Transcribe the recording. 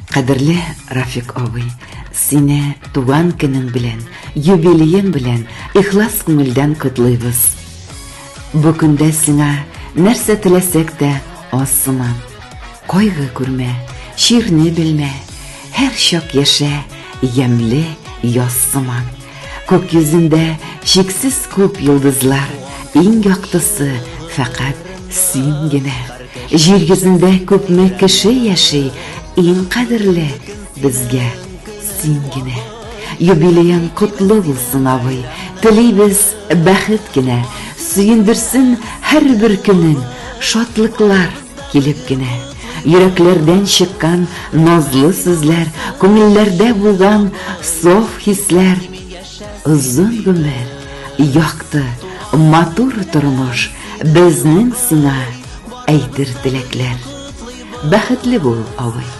Кадерле Рафик абый, сине туган көнең белән, юбилеең белән ихлас күңелдән котлыйбыз. Бу көндә сиңа нәрсә теләсәк тә аз сыман. Кайгы күрмә, чирне белмә, һәр чак яшә, ямьле яз сыман. Күк йөзендә чиксез күп йолдызлар, иң яктысы фәкать син генә. Җир йөзендә күпме кеше яши, иң кадерле безгә син генә. Юбилеең котлы булсын, абый, телибез бәхет кенә, сөендерсен һәрбер көнең, шатлыклар. Килеп кенә, йөрәкләрдән чыккан Назлы сүзләр, күңелләрдә булган Саф хисләр. Озын гомер, якты, матур тормыш, Безнең сиңа әйтер теләкләр. Бәхетле бул, абый!